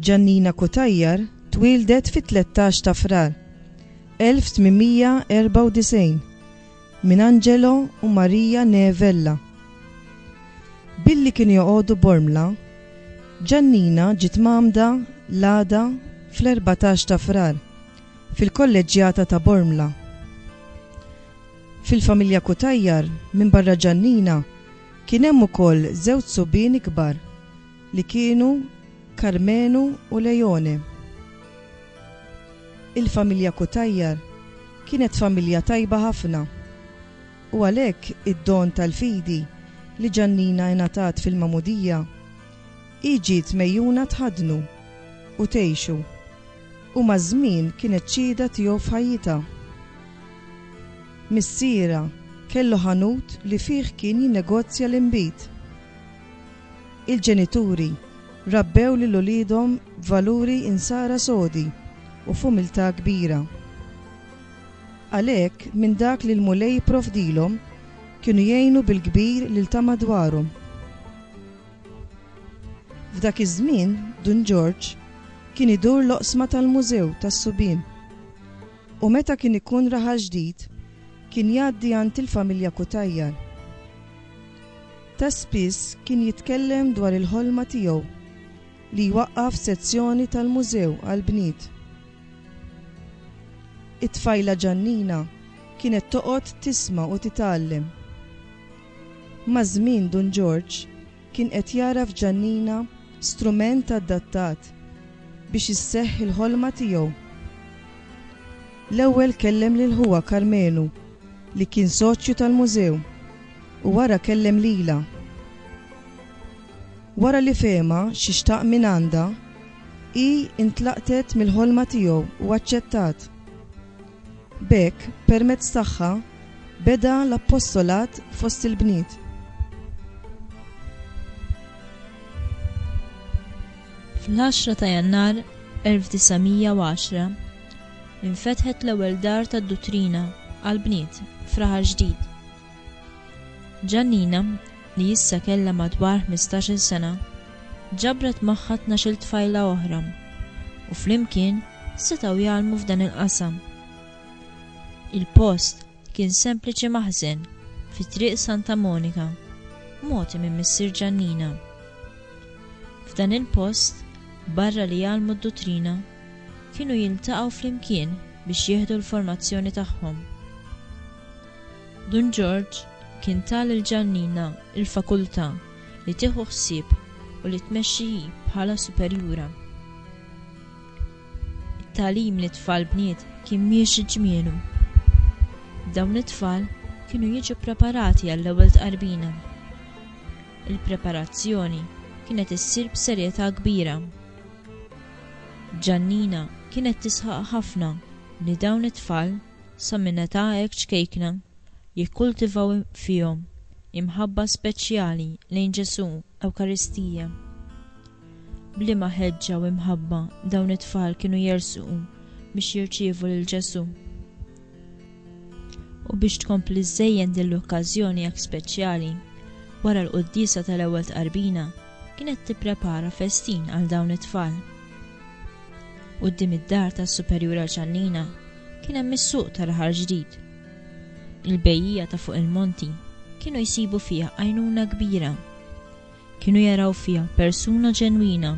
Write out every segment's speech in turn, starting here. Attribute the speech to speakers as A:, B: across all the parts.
A: Ġannina Kutajjar twildet fit-13 ta' Frar 1894 minn Angelo u Marija Nevella. Billi kienu joqogħdu Bormla, Ġannina ġiet mamda l-għada fl-14 ta' Frar fil-Kolleġġjata ta' Bormla. Fil-familja Cutajar, minbarra Ġannina, kien hemm ukoll żewġ subien ikbar li kienu Karmenu u Leone. Il-familja Cutajar kienet familja tajba ħafna u għalhekk id-don tal-fidi li Ġannina ingħatat fil-Magħmudija, hi ġiet megħjuna tħaddnu u tgħixu. U maż-żmien kienet xhieda tiegħu f'ħajjitha. Missierha kellu ħanut li fih kien jinnegozja l-inbid. Il-ġenituri rabbew lil uliedhom b'valuri Insara sodi u f'umiltà kbira. Għalhekk, minn dak li l-Mulej jipprovdilhom, kienu jgħinu bil-kbir lil ta' madwarhom. F'dak iż-żmien, Dun Ġorġ kien idur l-oqsma tal-Mużew tas-Subien u meta kien ikun Raħal Ġdid kien jgħaddi għand il-familja Cutajar. Ta' spiss kien jitkellem dwar il-ħolma tiegħu li jwaqqaf sezzjoni tal-Mużew għall-bniet. It-tfajla Ġannina kienet toqgħod tisma' u titgħallem. Maż-żmien Dun Ġorġ kien qed jara f'Ġannina strument adattat biex isseħħ il-ħolma tiegħu. L-ewwel kellem lil ħuha Karmenu li kien soċju tal-Mużew u wara kellem lilha. Wara li fehimha xi xtaq mingħandha, hi intlaqtet mill-ħolma tiegħu u aċċettat. B'hekk, permezz tagħha, beda l-appostolat fost il-bniet.
B: Fl-10 ta' Jannar 1910, infetħet l-ewwel dar tad-duttrina għall-bniet f'Raħal Ġdid. Giannina, li issa kellha madwar ħmistax-il sena, ġabret magħha tnax-il tfajla oħra, u flimkien setgħu jgħallmu f'dan il-qasam. Il-post kien sempliċi maħżen fi Triq Santa Monika, mogħti minn missier Giannina. F'dan il-post, barra li jgħallmu d-duttrina, kienu jiltaqgħu flimkien biex jieħdu l-formazzjoni tagħhom. Dun Ġorġ kien ta lil Ġannina l-fakultà li tieħu ħsieb u li tmexxi hi bħala superjura. It-tagħlim lit-tfal bniet kien miexi ġmielu. Dawn it-tfal kienu jiġu ppreparati għall-ewwel tqarbina. Il-preparazzjoni kienet issir b'serjetà kbira. Ġannina kienet tisħaq ħafna li dawn it-tfal, Sa minn età hekk ċkejkna jikkultivaw fihom imħabba speċjali lejn Ġesù, Ewkaristija. B'liema ħeġġa u imħabba dawn it-tfal kienu jersqu biex jirċievu lil Ġesù! U biex tkompli żżejjen din l-okkażjoni hekk speċjali, wara l-quddiesa tal-ewwel tqarbina kienet tipprepara festin għal dawn it-tfal. Quddiem id-dar tas-Superjur għal Ċannina kien hemm is-suq tal-Aħħar Ġdid. Il-bejjiegħa ta' fuq il-monti kienu jsibu fiha għajnuna kbira. Kienu jaraw fiha persuna ġenwina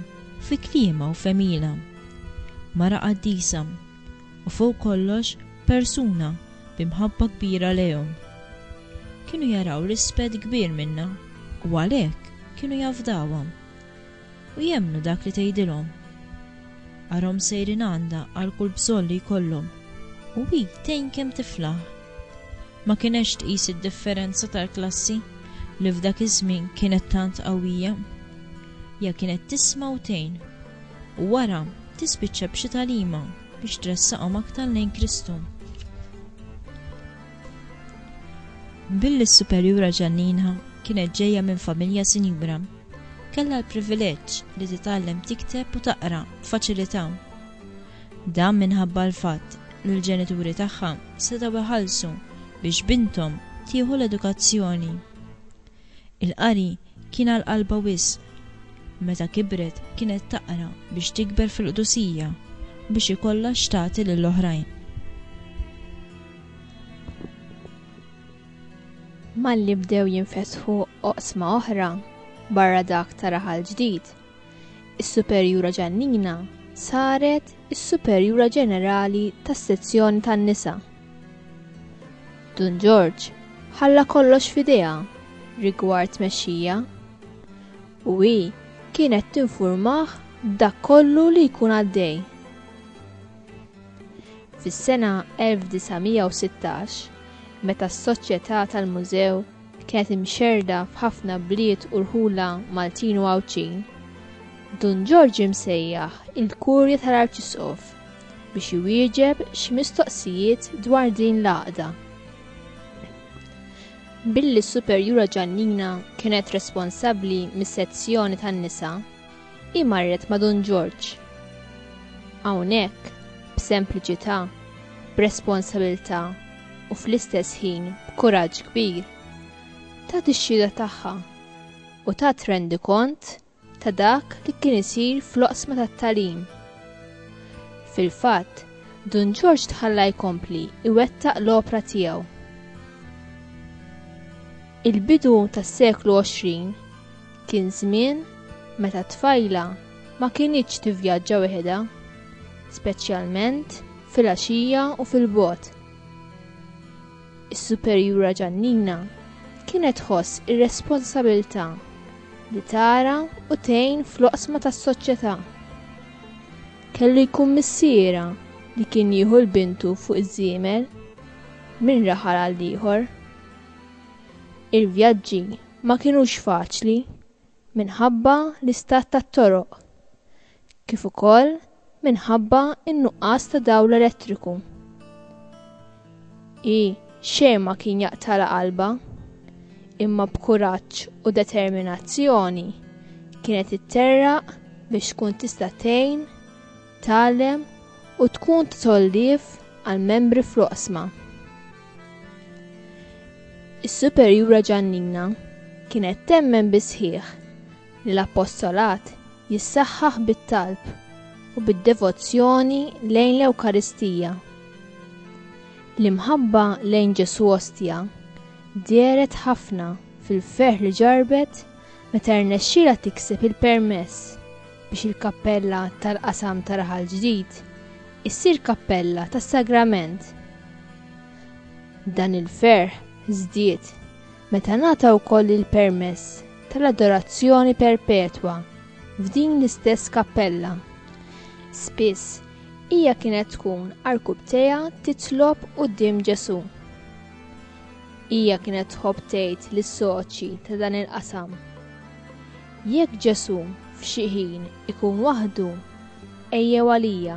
B: fi kliemha u f'għemilha. Mara qaddisa u fuq kollox persuna bi mħabba kbira lejhom. Kienu jaraw rispett kbir minnha u għalhekk kienu jafdawha. u jemmnu dak li tgħidilhom. Arahom sejrin għandha għal kull bżonn li jkollhom u hi tgħin kemm tiflaħ. Ma kinetx tqis id-differenza tal-klassi li f'dak iż-żmien kienet tant qawwija. Hija kienet tisma' u tgħin u wara tispiċċa b'xi tagħlima biex tressaqhom aktar lejn Kristu. Billi s-superjura Ġanninha kienet ġejja minn familja sinjura, kellha l-privileġġ li titgħallem tikteb u taqra b'faċilità. Dan minħabba l-fatt li l-ġenituri tagħha setgħu jħallsu biex binthom tieħu l-edukazzjoni. Il-qari kien għal qalbha wisq. Meta kibret kienet taqra biex tikber fil-qdusija u biex ikollha x'tagħti lill-oħrajn.
C: Malli bdew jinfetħu oqsma oħra barra dak ta' Raħal Ġdid, is-Superjura Ġannina saret is-Superjura Ġenerali tas-Sezzjoni tan-Nisa. Dun Ġorġ ħalla kollox f'idejha rigward tmexxija u hi kienet tinfurmah b'dak kollu li jkun għaddej. Fis-sena 1916, meta s-soċjetà tal-mużew kienet imxerrda f'ħafna bliet u rħula Maltin u Għawdxin, Dun Ġorġ imsejjaħ il-Kurja tal-Arċisqof biex iwieġeb xi mistoqsijiet dwar din l-għaqda. Billi s-Superjura Ġannina kienet responsabbli mis-sezzjoni tan-nisa, Hi marret ma' Dun Ġorġ. Hawnhekk, b'sempliċità, b'responsabilità u fl-istess ħin b'kuraġġ kbir, tat ix-xhieda tagħha u tat rendikont ta' dak li kien isir fl-oqsma tat-tagħlim. Fil-fatt, Dun Ġorġ tħalla jkompli jwettaq l-opra tiegħu. Il-bidu tas-seklu 20 Kien żmien meta t-tfajla ma kinitx tivvjaġġa weħedha, speċjalment fil-għaxija u fil-bogħod. Is-Superjura Ġannina kienet tħoss ir-responsabilità li tara u tgħin fl-oqsma tas-soċjetà. Kellu jkun missiera li kien jieħu l-bintu fuq iż-żiemel minn raħal għal ieħor. Il-vjaġġi ma kinux faċli minħabba l-istat tat-toroq kif ukoll minħabba n-nuqqas ta' dawl elettriku. Hi xejn ma kien jaqtala qalbha, imma b'kuraġġ u determinazzjoni kienet itterraq biex tkun tista' tgħin tgħallem u tkun ta' tgħollif għall-membri fl-oqsma. Is-Superjura Ġannina kienet temmen bis-sħiħ li l-Appostolat jissaħħaħ bit-talb u bid-devozzjoni lejn l-Ewkaristija. L-imħabba lejn Ġesù Ostja dehret ħafna fil-ferħ li ġarrbet meta rnexxielha tikseb il-permess biex il-kappella tal-qasam ta' Raħal Ġdid issir kappella tas-Sagrament. Dan il-ferħ żdied meta ngħata wkoll il-permess tal-adorazzjoni perpetwa f'din l-istess kappella. Spiss hija kienet tkun arkubtejha titlob quddiem Ġesù. Hija kienet tħobb tgħid lis-soċji ta' dan il-qasam. Jekk Ġesù f'xi ħin ikun waħdu, ejjew għalija,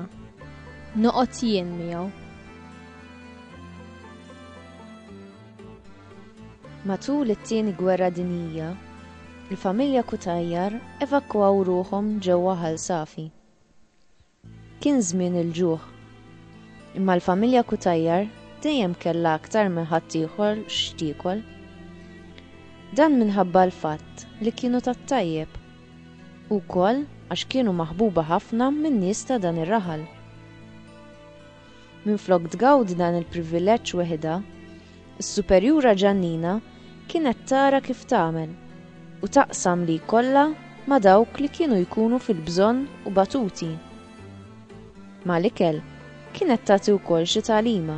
C: noqgħod jien miegħu.
D: Matul it-Tieni Gwerra Dinjija, il-familja Cutajar evakwaw ruħhom ġewwa Ħal Safi. Kien żmien il-ġuħ. Imma l-familja Cutajar dejjem kellha aktar minn ħaddieħor x'tiekol. Dan minħabba l-fatt li kienu tat-tajjeb, u wkoll għax kienu maħbuba ħafna min-nies ta' dan ir-raħal. Minflok tgawdi dan il-privileġġ weħidha, is-Superjura Ġannina kienet tara kif tagħmel u taqsam li jkollha ma' dawk li kienu jkunu fil-bżonn u batuti. Mal-ikel kienet tagħti wkoll xi tagħlima.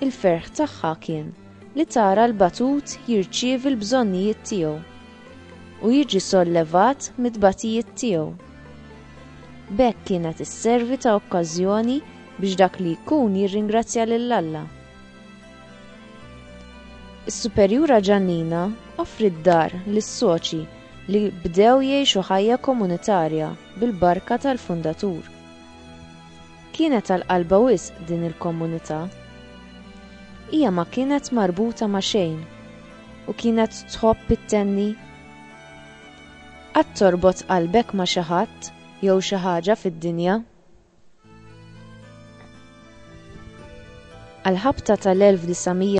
D: Il-ferħ tagħha kien li tara l-batut jirċievi l-bżonnijiet tiegħu u jiġi sollevat mit-tbatijiet tiegħu. B'hekk kienet isservi ta' okkażjoni biex dak li jkun jirringrazzja lil Alla. Is-Superjura Ġannina offriet dar lis-soċi li bdew jgħixu ħajja komunitarja bil-barka tal-fundatur. Kienet għal qalbha wisq din il-komunità. Hija ma kienet marbuta ma' xejn u kienet tħobb it-tenni. Qatt torbot qalbek ma' xi ħadd jew xi ħaġa fid-dinja? Għall-ħabta tal-1900,